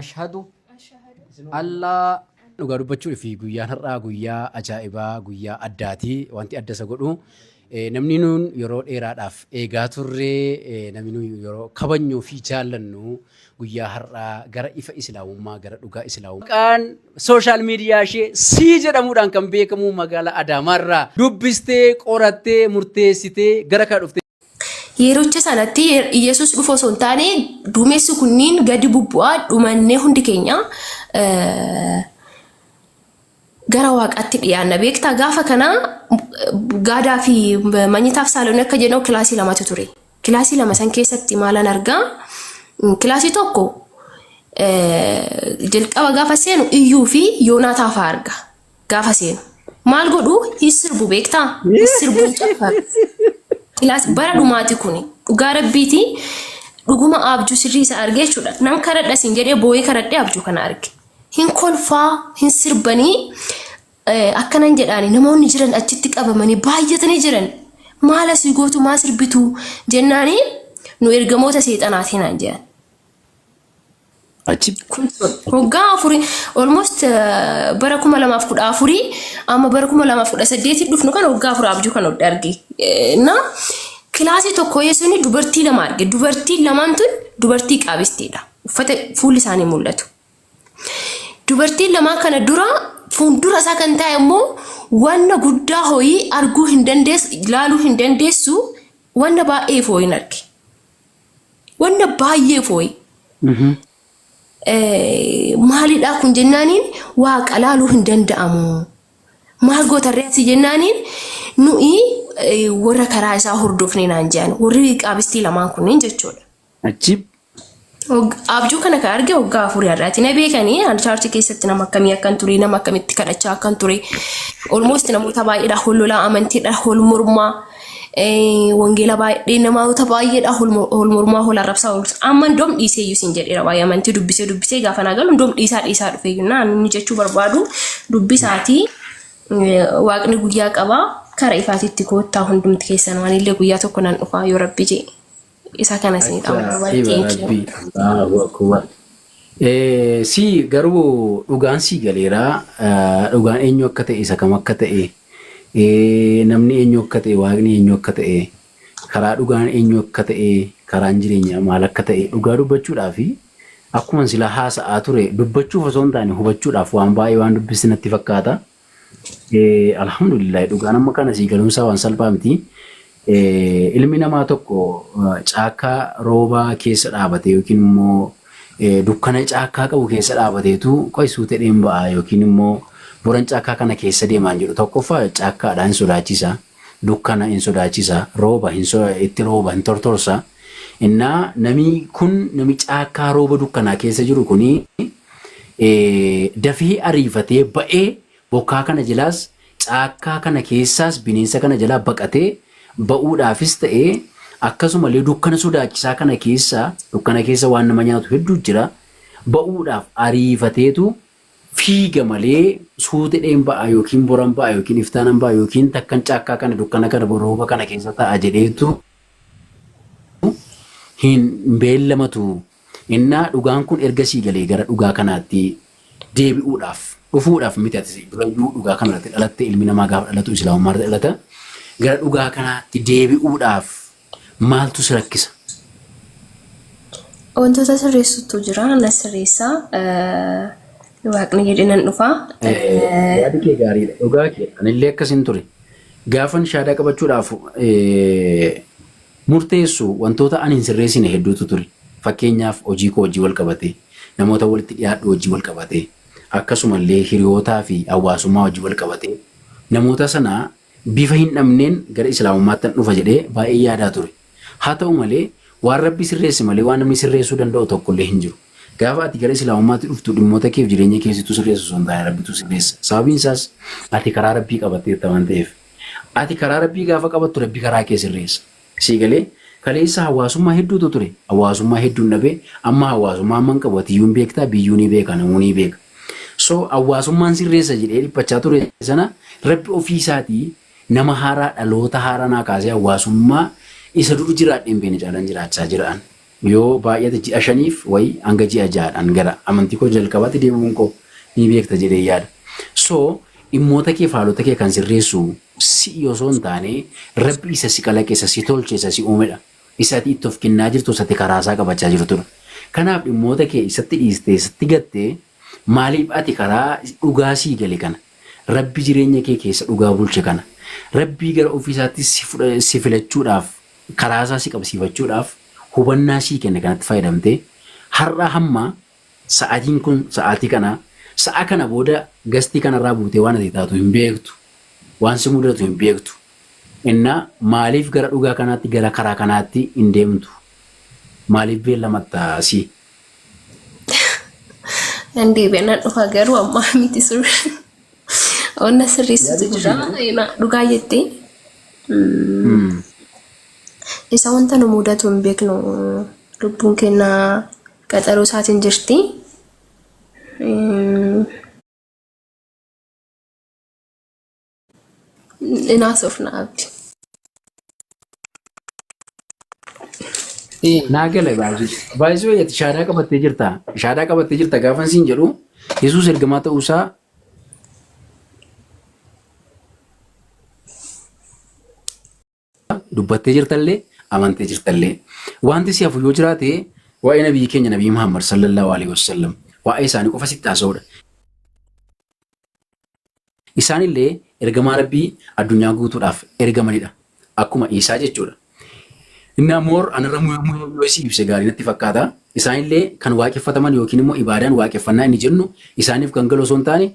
ashhadu allaa dhugaa dubbachuu fi guyyaan har'aa guyyaa ajaa'ibaa guyyaa addaati wanti adda isa godhu namni nuun yeroo dheeraadhaaf eegaa turree namni nuun yeroo kabanyuu fi jaallannu guyyaa har'aa gara ifa islaamummaa gara dhugaa islaamummaa maqaan sooshaal miidiyaa ishee sii jedhamuudhaan kan beekamu magaalaa Adaamaarraa dubbistee qorattee murteessitee gara kana dhuftee Yerocha sanatti Yesus dhufu osoo hin taane duumessi kunniin gadi bubbu'aa dhumannee hundi keenya gara waaqaatti dhiyaanna. Beektaa gaafa kana gaadaa fi manyitaaf saaloon akka jennu kilaasii lamatu ture. Kilaasii lama san keessatti maalan argaa? Kilaasii tokko jalqaba gaafa seenu iyyuu fi yoonaataa fa'aa arga. gaafa seenu. Maal godhu hin sirbu beektaa? Hin sirbu hin caffaru. Kilaas bara dhumaati kuni dhugaa rabbiiti dhuguma abjuu sirrii isa argee jechuudha. Nan karadha siin jedhee boo'ee karadhee abjuu kana arge. Hin kolfaa hin sirbanii eh, akkanan jedhaani namoonni jiran achitti qabamanii baay'atanii jiran. Maal asii gootu maa sirbitu jennaani nu ergamoota seexanaatii naan jedhan. Ajib. Kun waggaa afurii almost eh, bara kuma lamaaf kudha afurii amma bara kuma lamaaf kudha saddeetii dhufnu kan waggaa afurii abjuu kan hodhe arge. Eh, Na kilaasii tokko yeessuun dubartii lama arge. Dubartiin lamaan tun dubartii qaabisteedha. Uffata fuulli isaanii mul'atu. Dubartiin lamaan kana dura fuuldura isaa kan taa'e immoo wanna guddaa ho'ii arguu hin dandeessu, ilaaluu hin dandeessu, wanna baay'ee foo'in arge. Wanna baay'ee fooyi. Maalidhaa kun jennaaniin waa qalaaluu hin danda'amu. Maal gootarree asii jennaaniin nu'i warra karaa isaa hordofne naan jedhan warri qaabistii lamaan kunneen jechuudha. Ajib. Abjuu kana kan arge waggaa afurii har'aati. Na beekanii an chaarchi keessatti nama akkamii akkan ture nama akkamitti kadhachaa akkan ture. Olmoost namoota baay'eedha hololaa amantiidha hol mormaa. Wangeela baay'ee namoota baay'eedha hol mormaa hol arrabsaa hol amma indoom dhiisee iyyuu siin jedheera waa'ee amantii dubbisee dubbisee gaafa naa galu indoom dhiisaa dhiisaa dhufee iyyuu naan inni jechuu barbaadu dubbisaatii waaqni guyyaa qabaa kara ifaatitti koottaa hundumti keessan waan illee guyyaa tokko nan dhufaa yoo rabbi jee. Isa kana sii Acha qabna wal siba xiiqii. rabbi Allahu akbar. Eh, si garuu dhugaan sii galeera eh, dhugaan eenyu akka ta'e isa kam akka ta'e eh, namni eenyu akka ta'e waaqni eenyu akka ta'e karaa dhugaan eenyu akka ta'e karaan jireenya maal akka ta'e dhugaa dubbachuudhaa fi akkuma sila haasa'aa ture dubbachuuf osoo hin taane hubachuudhaaf waan baay'ee waan dubbisnatti fakkaata. Eh, Alhamdulillah dhugaan amma kana sii galumsaa waan salphaa miti. Eh, ilmi namaa tokko eh, caakkaa roobaa keessa dhaabate yookiin immoo eh, dukkana caakkaa qabu keessa dhaabateetu qoy suutee dheen ba'a yookiin immoo boran caakkaa kana keessa deemaan jedhu tokkoffaa caakkaadha hin sodaachisa. Dukkana hin sodaachisa. Rooba hin so, itti rooba hin tortorsa. Innaa namni kun nami caakkaa rooba dukkanaa keessa jiru kuni dafee ariifatee ba'ee bokkaa kana jalaas caakkaa kana keessaas bineensa kana jalaa baqatee ba'uudhaafis ta'ee akkasumallee dukkana sodaachisaa kana keessa dukkana keessa waan nama nyaatu hedduu jira ba'uudhaaf ariifateetu fiiga malee suutidheen ba'a yookiin boran ba'a yookiin iftaanan ba'a yookiin takkan caakkaa kana dukkana kana rooba kana keessa ta'a jedheetu hin beellamatu Innaa dhugaan kun erga sii galee gara dhugaa kanaatti deebi'uudhaaf, dhufuudhaaf miti ati durayyuu dhugaa kana irratti dhalatte ilmi namaa gaafa dhalatu islaamummaa irratti dhalata gara dhugaa kanaatti deebi'uudhaaf maaltu si rakkisa? Wantoota sirreessutu jira na sirreessa waaqni jedhe nan dhufa. Yaadi kee gaariidha dhugaa kee anillee akkasin ture gaafan shaadaa qabachuudhaaf murteessu wantoota ani hin sirreessine hedduutu ture. Fakkeenyaaf hojii koo wajjin wal qabatee, namoota walitti dhiyaadhu wajjin wal qabatee, akkasuma illee hiriyootaa fi hawwaasummaa wajjin wal qabatee namoota sana bifa hin dhabneen gara Islaamummaattan dhufa jedhee baay'een yaadaa ture. Haa ta'u malee waan Rabbi sirreesse malee waan namni sirreessuu danda'u tokko illee hin jiru. Gaafa ati gara Islaamummaatti dhuftu dhimmoota kee fi jireenya kee situ sirreessa osoo hin taane Rabbitu sirreessa. Sababiin isaas ati karaa Rabbii qabatteetta waan ta'eef. Ati karaa Rabbii gaafa qabattu Rabbi karaa kee sirreessa. Sii galee? Kaleessa hawaasummaa hedduutu ture. Hawaasummaa hedduun dhabe. Amma hawaasummaa amman qabu atiyyuu hin beekta, biyyuu ni beeka, namuu ni beeka. So hawaasummaan sirreessa jedhee dhiphachaa ture sana Rabbi ofii isaatii nama haaraa dhaloota haaraa naa kaasee hawaasummaa isa dur jiraadhee hin beekne caalaan jiraachaa jira an. Yoo baay'ate ji'a shaniif wayi hanga ji'a ja'adhaan gara amantii koo jalqabaatti deebi'uun koo ni beekta jedheen yaada. So dhimmoota kee faalota kee kan sirreessu si'i osoo hin taane Rabbi isa si kalaqe isa si tolche isa si uumedha. Isa ati itti of kennaa jirtu isa ati karaasaa qabachaa jirtudha. Kanaaf dhimmoota kee isatti dhiistee isatti gatte maaliif ati karaa dhugaa sii gale kana Rabbi jireenya kee keessa dhugaa bulche kana Rabbii gara ofii isaatti si fudha si filachuudhaaf karaa isaa si qabsiifachuudhaaf hubannaa sii kenne kanatti fayyadamtee har'aa hamma sa'atiin kun sa'aatii kanaa sa'a kana booda gastii kanarraa buutee waan ati taatu hin beektu waan si mudatu hin beektu innaa maaliif gara dhugaa kanaatti gara karaa kanaatti hin deemtu maaliif beellamatta si Nan deebi'a nan dhufa garuu ammaa miti sirri. Onna sirreessitu jira. Ima- Dhugaa jette. Mm. Isa wanta nu mudatu hin beeknu. Lubbuun keenya qaxaroo isaatiin jirti. Mm. Inaasofna abdi. Ee, naa gale baay'ee. Baay'isuu eeyyatti shaadaa qabattee jirta. Shaadaa qabattee jirta gaafa siin jedhu Yesuus ergamaa ta'uusaa dubbattee jirtallee amantee jirtallee. Wanti si hafu yoo jiraate waa'ee nabiyyi keenya nabiyyi Muhammad sallallahu alaihi wasallam waa'ee isaanii qofa sitti haasa'uudha. Isaanillee ergamaa Rabbii addunyaa guutuudhaaf ergamanidha. Akkuma Iisaa jechuudha. Innaa more anarra muhe muhe yoo isii ibse gaarii natti fakkaata. Isaanillee kan waaqeffataman yookiin immoo ibaadaan waaqeffannaa inni jennu isaaniif kan galu osoo hin taane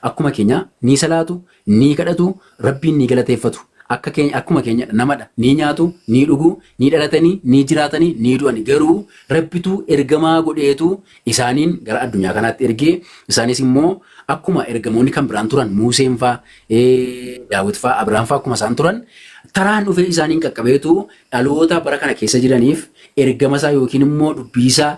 Akkuma keenya ni salaatu, ni kadhatu, Rabbiin ni galateeffatu. Akka keenya, akkuma keenya dha, nama dha. Ni nyaatu, ni dhugu, ni dhalatani, ni jiraatani, ni du'ani. Garuu Rabbitu ergamaa godheetu isaaniin gara addunyaa kanaatti erge. Isaanis immoo akkuma ergamoonni kan biraan turan, Muuseen faa, Daawit faa, Abrahaam faa akkuma isaan turan, taraan dhufee isaaniin qaqqabeetu dhaloota bara kana keessa jiraniif ergama isaa yookiin immoo dubbii isaa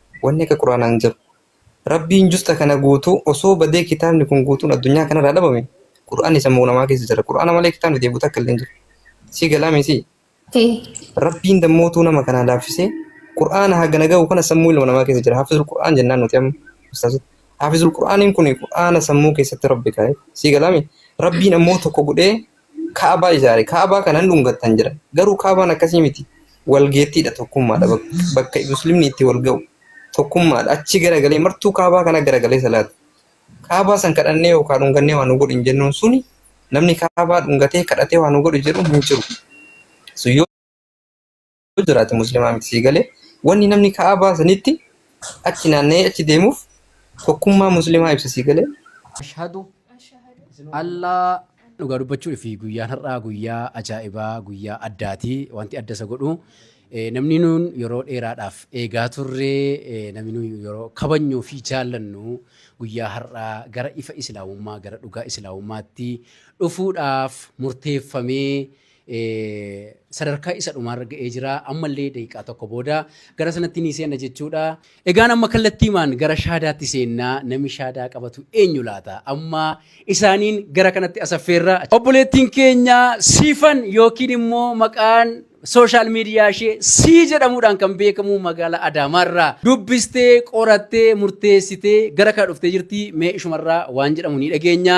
Wanni akka Qur'aanaa hin jiru. Rabbiin justa kana guutuu osoo badee kitaabni kun guutuun addunyaa kanarraa dhabame Qur'aanni sammuu namaa keessa jira. Qur'aana malee kitaabni deebi'u takka illee hin jiru. Sii galaa miisii? Ee. Rabbiin dammootuu nama kanaa laaffisee Qur'aana hagana gahu kana sammuu ilma namaa keessa jira. Haafizul Qur'aan jennaan nuti amma. Ustaazota. Haafizul Qur'aaniin kun Qur'aana sammuu keessatti Rabbi kaa'e. Sii galaa mii? Rabbiin ammoo tokko godhee Ka'abaa ijaare. Ka'abaa kana hin dhungattan jedhan. Garuu Ka'abaan akkasii miti. Walgeettiidha, tokkummaadha. Bakka Muslimni itti wal ga'u. Tokkummaadha. Achi garagalee martuu Ka'abaa kana garagalee salaata. Ka'abaa san kadhannee yookaan dhungannee waa nu godhi hin jennuun suni namni Ka'abaa dhungatee kadhatee waa nu godhi jedhu hin jiru. Sun yoo yoo jiraate muslimaa miti sii galee wanni namni ka'abaa sanitti achi naanna'ee achi deemuuf tokkummaa muslimaa ibsa sii galee ashhadu allaa dhugaa dubbachuu fi guyyaan har'aa guyyaa ajaa'ibaa guyyaa addaati wanti adda isa godhu eh, namni nuun yeroo dheeraadhaaf eegaa turre eh, namni nuun yeroo kabajnuu fi jaallannu guyyaa har'aa gara ifa islaamummaa gara dhugaa islaamummaatti dhufuudhaaf murteeffamee sadarkaa isa dhumaarra ga'ee jira. Ammallee daqiiqaa tokko booda gara sanatti ni seenna jechuudha. Egaan amma kallattiimaan gara shaadaatti seennaa namni shaadaa qabatu eenyu laata? Amma isaaniin gara kanatti asaffeerra. Obboleettiin keenya siifan yookiin immoo maqaan sooshaal miidiyaa ishee sii jedhamuudhaan kan beekamu magaalaa Adaamaarraa dubbistee qorattee murteessitee gara kana dhuftee jirti. Mee ishumarraa waan jedhamu ni dhageenya.